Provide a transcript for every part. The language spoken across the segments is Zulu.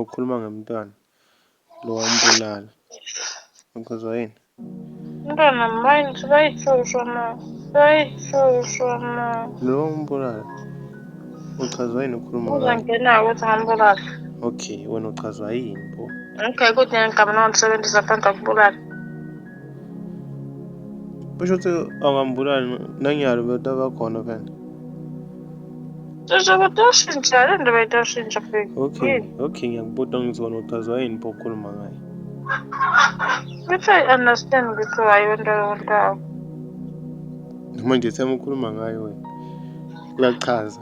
ukhuluma ngemntwana lo wambulala ukhuzwa yini umntwana mine sibayihlushwa ma sibayihlushwa ma lo wambulala uchazwa yini ukhuluma uzangena ukuthi ngambulala okay wena uchazwa yini bo okay kuthi ngigama nongisebenzisa phandle kubulala But you tell Agambura, Nang Yarvata va Konovan. There's a dozen, I don't know why dozen Japan. Okay, okay, yang botong is one of the Zain Pokul Mangai. Which I understand because I wonder what. Manje semukhuluma ngayo wena. Kuyachaza.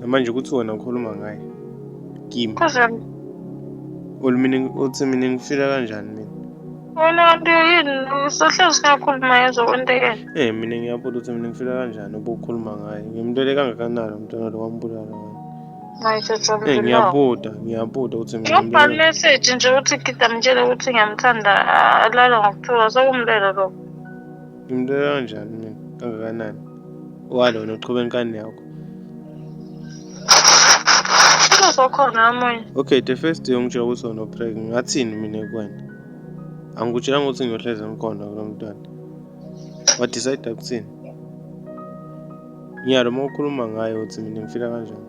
namanje ukuthi wena ukhuluma ngaye kimi olumini uthi mina ngifila kanjani mina wena nto yini usahlezi siyakhuluma yezo kwentekela eh mina ngiyabuza ukuthi mina ngifila kanjani ubukhuluma ngaye ngimntwele kangakanani umntwana lo wambulala Ngisho from Eh the long. ngiyabuda, ngiyabuda ukuthi mina Ngibhala ngibulele. message nje ukuthi Gida mtshele ukuthi ngiyamthanda ah, alala ngokuthuka sokumlelo lokho. Ngimbulela kanjani mina kangakanani? Walona uqhube inkani yakho. Kuthiwa sokhona omunye. Okay, the first day ungitshela ukuthi wena upreg ngathini mina kuwena? Angikutshela ukuthi ngiyohlezi ngikhona kulo mntwana. wa decide ukuthini ngiyalo uma ukhuluma ngayo ukuthi mina ngifila kanjani